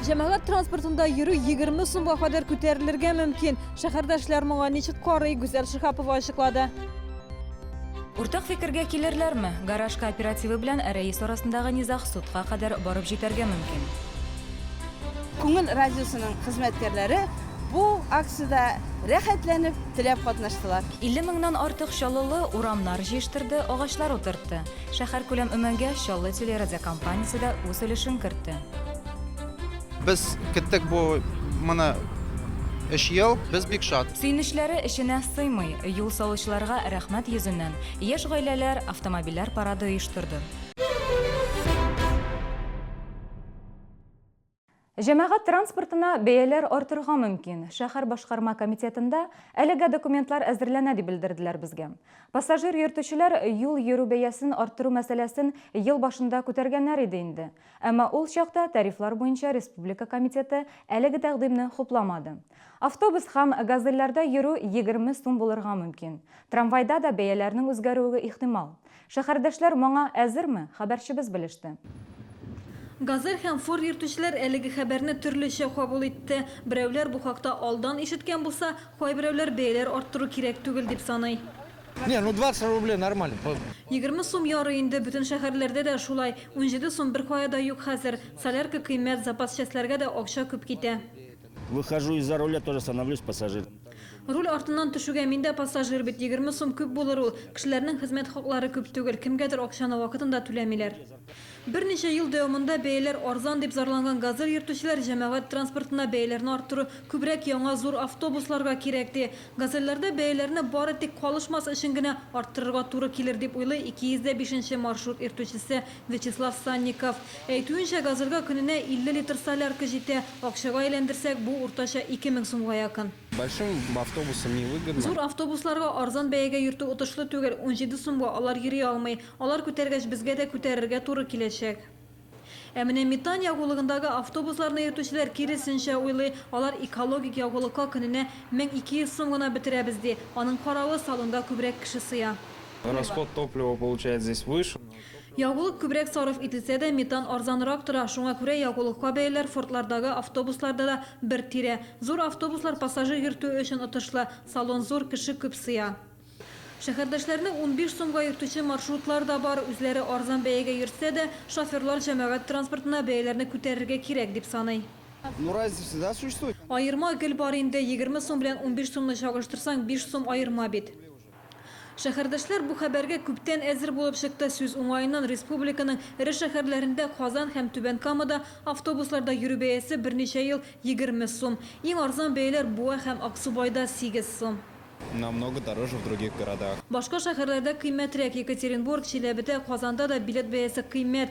Җәмәгать транспортында йөрү 20 сумга кадәр күтәрелергә мөмкин. Шәһәрдәшләр моңа ничек карый, Гүзәл Шиһапова ачыклады. Уртак фикергә килерләрме? Гараж кооперативы белән рәис арасындагы низаг судка кадәр барып җитәргә мөмкин. Күңел радиосының хезмәткәрләре бу акциядә рәхәтләнеп, теләп катнаштылар. 50 меңнән артык чаллылы урамнар җыештырды, агачлар утыртты. Шәһәркүләм өмәнгә Чаллы телерадиокомпаниясе дә үз өлешен кертте. Без кеттек бу моны өч ел, без бик шат. Сөенечләре эченә сыймый. Юл салучыларга рәхмәт йөзеннән, яшь гаиләләр автомобильләр парады оештырды. Җәмәгать транспортына бәяләр артырга мөмкин. Шәһәр башкарма комитетында әлегә документлар әзерләнә, дип белдерделәр безгә. Пассажир йөртүчеләр юл йөрү бәясен арттыру мәсьәләсен ел башында күтәргәннәр иде инде. Әмма ул чакта тарифлар буенча республика комитеты әлеге тәкъдимне хупламады. Автобус һәм Газельләрдә йөрү егерме сум булырга мөмкин. Трамвайда да бәяләрнең үзгәрүе ихтимал. Шәһәрдәшләр моңа әзерме? Хәбәрчебез белеште. Газель һәм Форд йөртүчеләр әлеге хәбәрне төрлечә кабул итте. Берәүләр бу хакта алдан ишеткән булса, кайберәүләр бәяләр арттыру кирәк түгел дип саный. Не, ну 20 рублей нормально. Егерме сум ярый инде, бөтен шәһәрләрдә дә шулай. Унҗиде сум беркая да юк хәзер. Солярка кыйммәт, запас частьләргә дә акча күп китә. Выхожу из-за руля, тоже становлюсь пассажиром. Руль артыннан төшүгә мин дә пассажир бит, егерме сум күп булыр ул. Кешеләрнең хезмәт хаклары күп түгел, кемгәдер акчаны вакытында түләмиләр. Берничә ел дәвамында бәяләр арзан дип зарланган Газель йөртүчеләр җәмәгать транспортына бәяләрне арттыру күбрәк яңа зур автобусларга кирәк, ди. Газельләрдә бәяләрне бары тик калышмас өчен генә арттырырга туры килер дип уйлый 205 нче маршрут йөртүчесе Вячеслав Санников әйтүенчә, газырга көненә 50 литр солярка җитә. Акчага әйләндерсәк, бу, уртача, 2 мең сумга якын. Большим автобусам невыгодно. Зур автобусларга арзан бәягә йөртү отышлы түгел, унҗиде сумга алар йөри алмый. Алар күтәргәч, безгә дә күтәрергә туры киләчәк. Ә менә метан ягулыгындагы автобусларны йөртүчеләр киресенчә уйлый, алар экологик ягулыкка көненә 1200 сум гына бетерәбез, ди. Аның каравы, салонда күбрәк кеше сыя. Расход топлива получается здесь выше, но. Ягулык күбрәк сарыф ителсә дә, метан арзанрак тора, шуңа күрә ягулыкка бәяләр фордлардагы автобусларда да бер тирә. Зур автобуслар пассажир йөртү өчен отышлы, салон зур, кеше күп сыя. Шәһәрдәшләрне унбиш сумга йөртүче маршрутлар да бар, үзләре арзан бәягә йөртсә дә, шоферлар җәмәгать транспортына бәяләрне күтәрергә кирәк, дип саный. Аерма гел бар инде, егерме сум белән унбиш сумны чагыштырсаң, биш сум аерма бит. Шәһәрдәшләр бу хәбәргә күптән әзер булып чыкты. Сүз уңаеннан, республиканың эре шәһәрләрендә, Казан һәм Түбән Камада автобусларда йөрү бәясе берничә ел егерме сум. Иң арзан бәяләр Буа һәм Аксубайда, сигез сум. Намного дороже в других городах. Башка шәһәрләрдә кыйммәтрәк. Екатеринбург, Чиләбедә, Казанда да билет бәясе кыйммәт.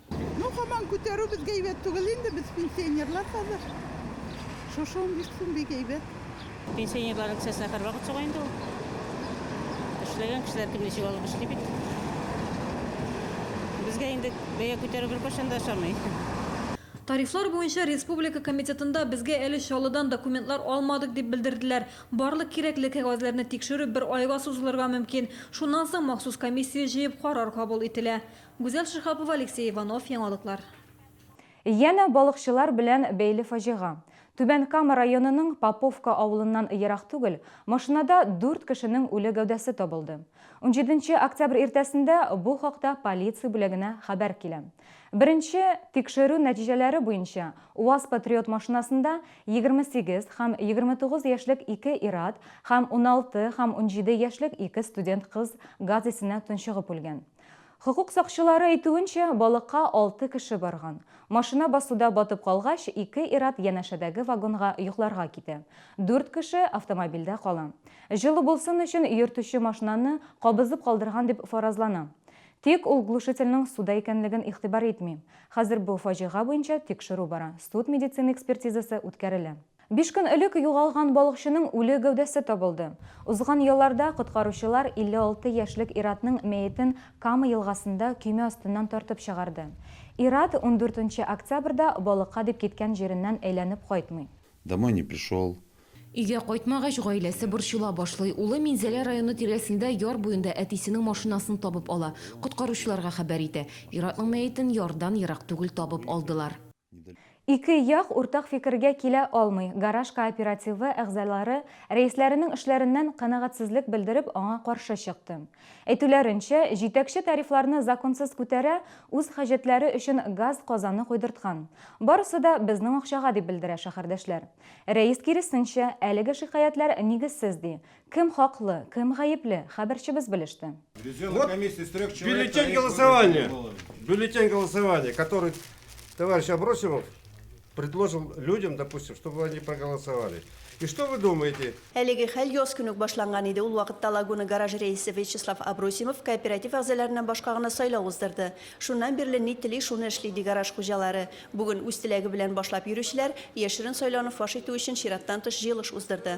Ну һаман күтәрү безгә әйбәт түгел инде, без пенсионерлар хәзер. Шушы 15 сум бик әйбәт. Пенсионерлар акциясенә һәрвакыт чыга инде ул. Эшләгән кешеләр кем ничек алып эшли бит. Безгә инде бәя күтәрү беркайчан да ошамый. Тарифлар буенча республика комитетында безгә әле Чаллыдан документлар алмадык дип белдерделәр. Барлык кирәкле кәгазьләрне тикшерү бер айга сузылырга мөмкин. Шуннан соң махсус комиссия җыеп карар кабул ителә. Гүзәл Шиһапова, Алексей Иванов, Яңалыклар. Янә балыкчылар белән бәйле фаҗига. Түбән Кама районының Поповка авылыннан ерак түгел, машинада дүрт кешенең үле гәүдәсе табылды. Унҗиденче октябрь иртәсендә бу хакта полиция бүлегенә хәбәр килә. Беренче тикшерү нәтиҗәләре буенча, УАЗ-Патриот машинасында егерме сигез һәм егерме тугыз яшьлек ике ир-ат һәм уналты һәм унҗиде яшьлек ике студент кыз газ исенә тончыгып үлгән. Хокук сакчылары әйтүенчә, балыкка алты кеше барган. Машина басуда батып калгач, ике ир-ат янәшәдәге вагонга йокларга китә. Дүрт кеше автомобильдә кала. Җылы булсын өчен йөртүче машинаны кабызып калдырган дип фаразлана. Тик ул глушительнең суда икәнлеген игътибар итми. Хәзер бу фаҗига буенча тикшерү бара, суд-медицина экспертизасы үткәрелә. Биш көн элек югалган балыкчының үле гәүдәсе табылды. Узган елларда коткаручылар 56 яшьлек ир-атның мәетен Кама елгасында көймә астыннан тартып чыгарды. Ир-ат ундүртенче октябрьдә балыкка дип киткән җиреннән әйләнеп кайтмый. Домой не пришел. Өйгә кайтмагач, гаиләсе борчыла башлый. Улы Минзәлә районы тирәсендә яр буенда әтисенең машинасын табып ала, коткаручыларга хәбәр итә. Ир-атның мәетен ярдан ерак түгел табып алдылар. Ике як уртак фикергә килә алмый, гараж кооперативы әгъзалары, рәисләренең эшләреннән канәгатьсезлек белдереп, аңа каршы чыкты. Әйтүләренчә, җитәкче тарифларны законсыз күтәрә, үз хаҗәтләре өчен газ казаны койдырткан. Барысы да безнең акчага, дип белдерә шәһәрдәшләр. Рәис киресенчә, әлеге шикаятьләр нигезсез, ди. Кем хаклы, кем гаепле, хәбәрчебез белеште. Вот бюллетень голосования, бюллетень голосования, который товарищ Абросимов предложил людям, допустим, чтобы они проголосовали. И что вы думаете? Әлеге хәл яз көн үк башланган иде. Ул вакытта Лагуна гараж рәисе Вячеслав Абросимов кооператив әгъзаларыннан башка гына сайлау уздырды. Шуннан бирле ни тели, шуны эшли, ди гараж хуҗалары. Бүген үз теләге белән башлап йөрүчеләр яшерен сайлауны фаш итү өчен чираттан тыш җыелыш уздырды.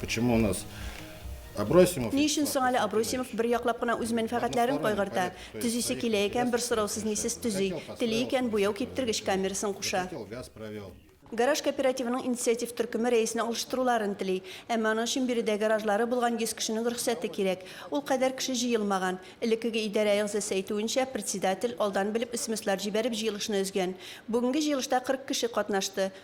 Почему у нас Абросимов. Ни өчен соң әле Абросимов бер яклап кына үз мәнфәгатьләрен кайгырта? Төзисе килә икән, бер сораусыз нисез төзи. Тели икән, буяу киптергеч камерасын куша. Гараж кооперативының инициатив төркеме рәисне алыштыруларын тели. Әмма аның өчен биредә гаражлары булган 100 кешенең рөхсәте кирәк. Ул кадәр кеше җыелмаган. Элеккеге идарә әгъзасы әйтүенчә, председатель, алдан белеп, смслар җибәреп, җыелышны өзгән. Бүгенге җыелышта 40 кеше катнашты.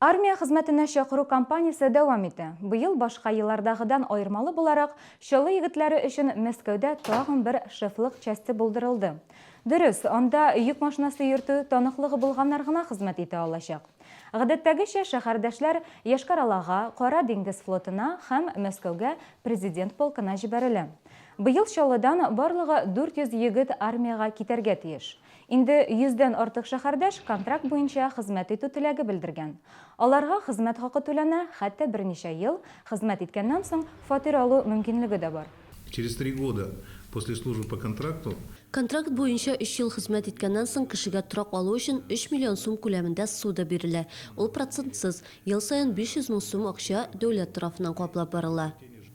Армия хезмәтенә чакыру кампаниясе дәвам итә. Быел, башка еллардагыдан аермалы буларак, Чаллы егетләре өчен Мәскәүдә тагын бер шефлык часте булдырылды. Дөрес, анда йөк машинасы йөртү таныклыгы булганнар гына хезмәт итә алачак. Гадәттәгечә, шәһәрдәшләр Йошкар-Олага, Кара диңгез флотына һәм Мәскәүгә Президент полкына җибәрелә. Быел Чаллыдан барлыгы 400 егет армиягә китәргә тиеш. Инде йөздән артык шәһәрдәш контракт буенча хезмәт итү теләге белдергән. Аларга хезмәт хакы түләнә, хәтта берничә ел хезмәт иткәннән соң фатир алу мөмкинлеге дә бар. Через три года после службы по контракту. Контракт буенча өч ел хезмәт иткәннән соң кешегә торак алу өчен өч миллион сум күләмендә ссуда бирелә, ул процентсыз, ел саен 500 мең сум акча дәүләт тарафыннан каплап барыла.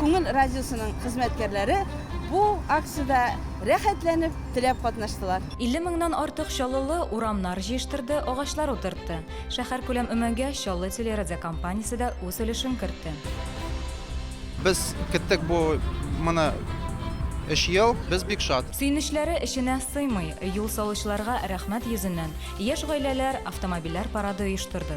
Күңел радиосының хезмәткәрләре бу акциядә рәхәтләнеп, теләп катнаштылар. 50 меңнән артык чаллылы урамнар җыештырды, агачлар утыртты. Шәһәркүләм өмәгә Чаллы телерадиокомпаниясе дә үз өлешен кертте. Без көттек бу моны өч ел, без бик шат. Сөенечләре эченә сыймый. Юл салучыларга рәхмәт йөзеннән, яшь гаиләләр автомобильләр парады оештырды.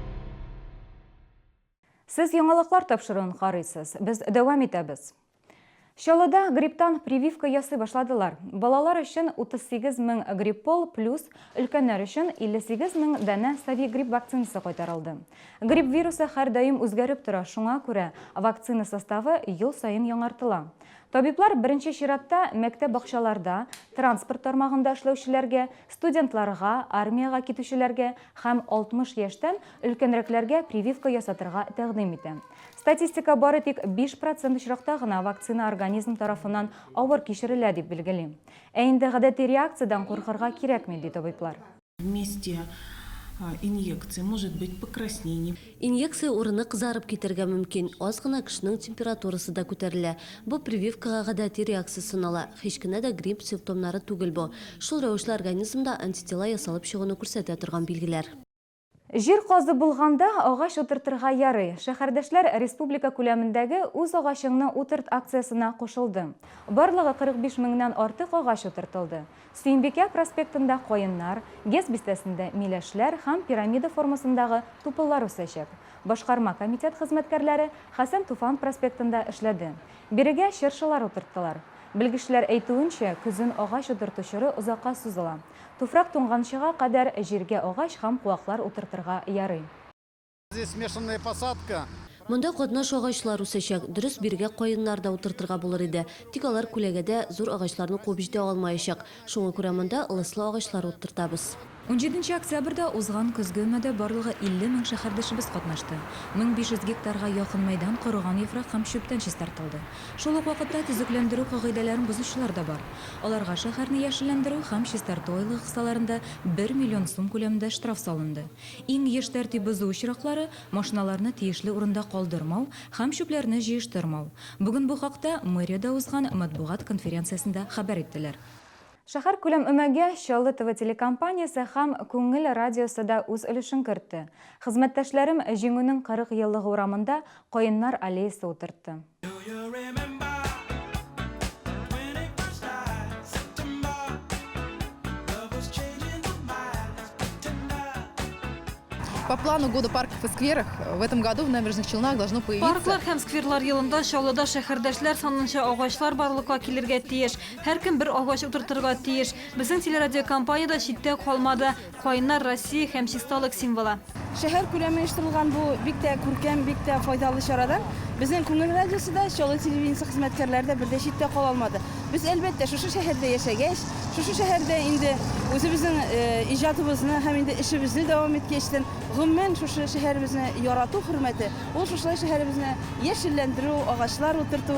Сез яңалыклар тапшыруын карыйсыз. Без дәвам итәбез. Чаллыда грипптан прививка ясый башладылар. Балалар өчен 38 мең гриппол плюс өлкәннәр өчен 58 мең данә Совигрипп вакцинасы кайтарылды. Грипп вирусы һәрдаим үзгәреп тора, шуңа күрә вакцина составы ел саен яңартыла. Табиблар беренче чиратта мәктәп-бакчаларда, транспорт тармагында эшләүчеләргә, студентларга, армиягә китүчеләргә һәм 60 яшьтән өлкәнрәкләргә прививка ясатырга тәкъдим итә. Статистика бары тик 5 процент очракта гына вакцина организм тарафыннан авыр кичерелә дип билгели. Ә инде гадәти реакциядән куркырга кирәкми, ди табиблар. Вместе инъекции может быть покраснение. Инъекция урыны кызарып китәргә мөмкин, аз гына кешенең температурасы да күтәрелә. Бу прививкага гадәти реакция санала, һич кенә дә грипп симптомнары түгел бу. Шул рәвешле организмда антитела ясалып чыгуны күрсәтә торган билгеләр. Җир казып булганда, агач утыртырга ярый. Шәһәрдәшләр республика күләмендәге Үз агачыңны утырт акциясенә кушылды. Барлыгы 45 меңнән артык агач утыртылды. Сөембикә проспектында каеннар, ГЭС бистәсендә миләшләр һәм пирамида формасындагы тупыллар үсәчәк. Башкарма комитет хезмәткәрләре Хәсән Туфан проспектында эшләде. Бирегә чыршылар утырттылар. Белгечләр әйтүенчә, көзен агач утырту чоры озакка сузыла. Туфрак туңганчыга кадәр җиргә агач һәм куаклар утыртырга ярый. Здесь смешанная посадка. Монда катнаш агачлар үсәчәк. Дөрес, бирегә каеннар да утыртырга булыр иде. Тик алар күләгәдә, зур агачларны куып җитә алмаячак. Шуңа күрә монда лыслы агачлар утыртабыз. Унҗиденче октябрьдә узган көзге өмәдә барлыгы 50 мең шәһәрдәшебез катнашты. 1500 гектарга якын мәйдан корыган яфрак һәм чүптән чистартылды. Шул ук вакытта төзекләндерү кагыйдәләрен бозучылар да бар. Аларга шәһәрне яшелләндерү һәм чистарту айлыгы кысаларында бер миллион сум күләмендә штраф салынды. Иң еш тәртип бозу очраклары, машиналарны тиешле урында калдырмау һәм чүпләрне җыештырмау. Бүген бу хакта мэриядә узган матбугат конференциясендә хәбәр иттеләр. Шәһәркүләм өмәгә Чаллы ТВ телекомпаниясе һәм Күңел радиосы да үз өлешен кертте. Хезмәттәшләрем Җиңүнең 40 еллыгы урамында каеннар аллеясы утыртты. Парклар һәм скверлар елында Чаллыда шәһәрдәшләр санынча агачлар барлыкка килергә тиеш. Һәркем бер агач утыртырга тиеш. Безнең телерадиокомпания дә читтә калмады. Каеннар, Россия һәм чисталык символы. Шәһәр күләме оештырылган бу бик тә күркәм, бик тә файдалы чарадан безнең Күңел радиосы да, Чаллы телевидениесе хезмәткәрләре дә бер дә читтә кала алмады. Без, әлбәттә, шушы шәһәрдә яшәгәч, шушы шәһәрдә инде үзебезнең иҗатыбызны һәм инде эшебезне дәвам иткәчтен, гомумән, шушы шәһәребезне ярату хөрмәте, ул шушылай шәһәребезне яшелләндерү, агачлар утырту,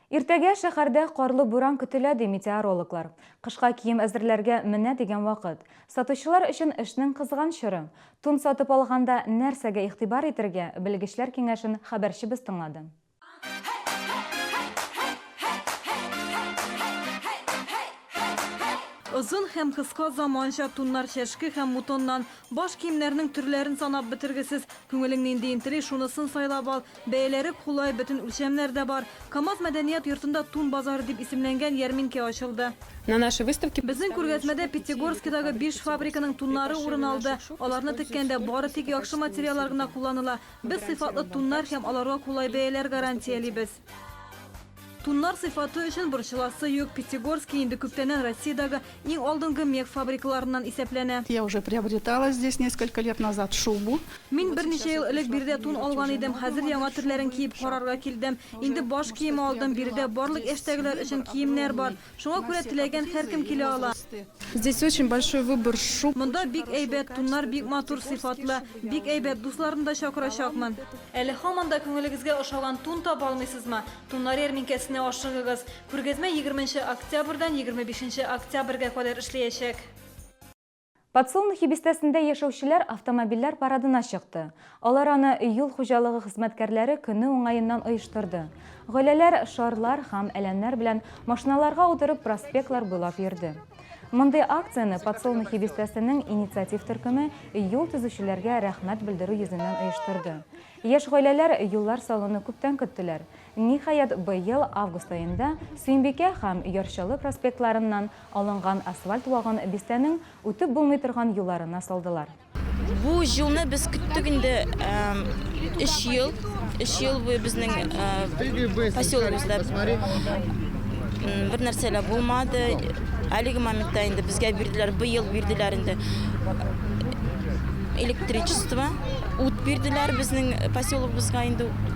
Иртәгә шәһәрдә карлы буран көтелә, ди метеорологлар. Кышка кием әзерләргә менә дигән вакыт. Сатучылар өчен эшнең кызган чоры. Тун сатып алганда нәрсәгә игътибар итәргә, белгечләр киңәшен хәбәрчебез тыңлады. Озын һәм кыска заманча туннар, чәшке һәм мутоннан. Баш киемнәрнең төрләрен санап бетергесез. Күңелең нинди интели, шунысын сайлап ал. Бәяләре кулай, бөтен үлчәмнәр дә бар. Камаз мәдәният йортында Тун базары дип исемләнгән ярминкә ачылды. Безнең күргәзмәдә Пятигорскидагы биш фабриканың туннары урын алды. Аларны теккәндә бары тик яхшы материаллар гына кулланыла. Без сыйфатлы туннар һәм аларга кулай бәяләр гарантиялибез. Туннар сыйфаты өчен борчыласы юк. Пятигорский инде күптәннән Россиядәге иң алдынгы мех фабрикаларыннан исәпләнә. Я уже приобретала здесь несколько лет назад шубу. Мин берничә ел элек биредә тун алган идем, хәзер яңа төрләрен киеп карарга килдем. Инде баш киеме алдым, биредә барлык яшьтәгеләр өчен киемнәр бар. Шуңа күрә теләгән һәркем килә ала. Здесь очень большой выбор шуб. Монда бик әйбәт, туннар бик матур, сыйфатлы. Бик әйбәт, дусларны да чакырачакмын. Әле һаман да күңелегезгә ошаган тун таба алмыйсызмы? Туннар ярминкәсенә ашыгыгыз. Күргәзмә егерменче октябрьдән егерме бишенче октябрьгә кадәр эшләячәк. Подсолнухи бистәсендә яшәүчеләр автомобильләр парадына чыкты. Алар аны юл хуҗалыгы хезмәткәрләре көне уңаеннан оештырды. Гаиләләр шарлар һәм әләмнәр белән машиналарга утырып проспектлар буйлап йөрде. Мондый акцияне Подсолнухи бистәсенең инициатив төркеме юл төзүчеләргә рәхмәт белдерү йөзеннән оештырды. Яшь гаиләләр юллар салуны күптән көттеләр. Ниһаять, быел август аенда Сөембикә һәм Яр-Чаллы проспектларыннан алынган асфальт вагын бистәнең үтеп булмый торган юлларына салдылар. Бу юлны без көттек инде өч ел. Өч ел буе безнең поселогыбызда бернәрсә лә булмады. Әлеге моментта инде безгә бирделәр, быел бирделәр инде электричество, ут бирделәр безнең поселогыбызга инде.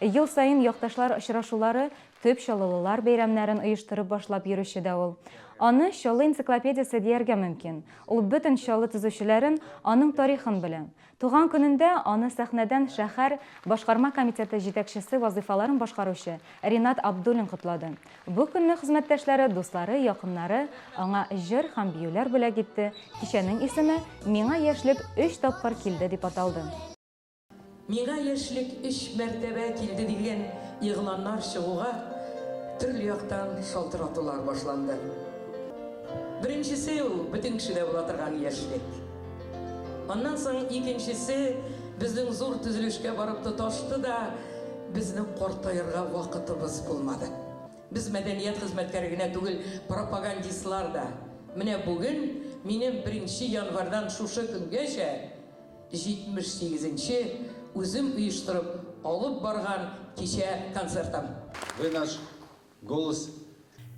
Ел саен якташлар очрашулары, төп чаллылылар бәйрәмнәрен оештырып башлап йөрүче дә ул. Аны Чаллы энциклопедиясе дияргә мөмкин. Ул бөтен Чаллы төзүчеләрен, аның тарихын белә. Туган көнендә аны сәхнәдән шәһәр Башкарма комитеты җитәкчесе вазыйфаларын башкаручы Ринат Абдуллин котлады. Бу көнне хезмәттәшләре, дуслары, якыннары аңа җыр һәм биюләр бүләк итте. Кичәнең исеме Миңа яшьлек өч тапкыр килде дип аталды. Миңа яшьлек өч мәртәбә килде дигән игъланнар чыгуга, төрле яктан шалтыратулар башланды. Беренчесе ул, бөтен кешедә була торган яшьлек. Аннан соң икенчесе безнең зур төзелешкә барып тоташты да, безнең картаерга вакытыбыз булмады. Без мәдәният хезмәткәре генә түгел, пропагандистлар да. Менә бүген минем беренче январьдан шушы көнгәчә, 78 нче үзем оештырып алып барган кичә концертым. Вы наш голос.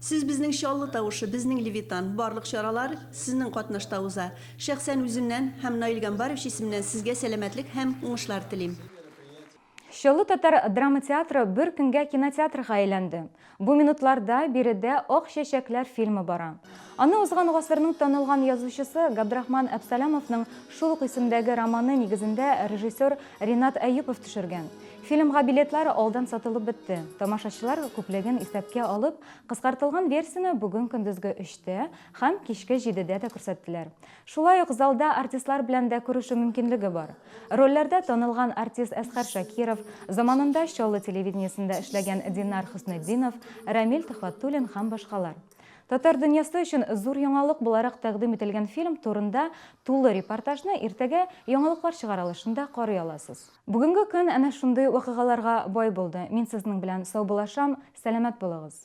Сез безнең Чаллы тавышы, безнең Левитан. Барлык чаралар Сезнең катнашта уза. Шәхсән үземнән һәм Наил Гамбаров җисеменнән Сезгә сәламәтлек һәм уңышлар телим. Чаллы татар драма театры бер көнгә кинотеатрга әйләнде. Бу минутларда биредә Ак чәчәкләр фильмы бара. Аны узган гасырның танылган язучысы Габдрахман Әпсәләмовның шул ук исемдәге романы нигезендә режиссер Ринат Әюпов төшергән. Фильмга билетлар алдан сатылып бетте. Тамашачылар күплеген исәпкә алып, кыскартылган версияне бүген көндезге өчтә һәм кичке җидедә дә күрсәттеләр. Шулай ук залда артистлар белән дә күрешү мөмкинлеге бар. Рольләрдә танылган артист Әсхәр Шакиров, заманында Чаллы телевидениесендә эшләгән Динар Хөснетдинов, Рәмил Төхвәтуллин һәм башкалар. Татар дөньясы өчен зур яңалык буларак тәкъдим ителгән фильм турында тулы репортажны иртәгә Яңалыклар чыгарылышында карый аласыз. Бүгенге көн әнә шундый вакыйгаларга бай булды. Мин сезнең белән саубулашам, сәламәт булыгыз!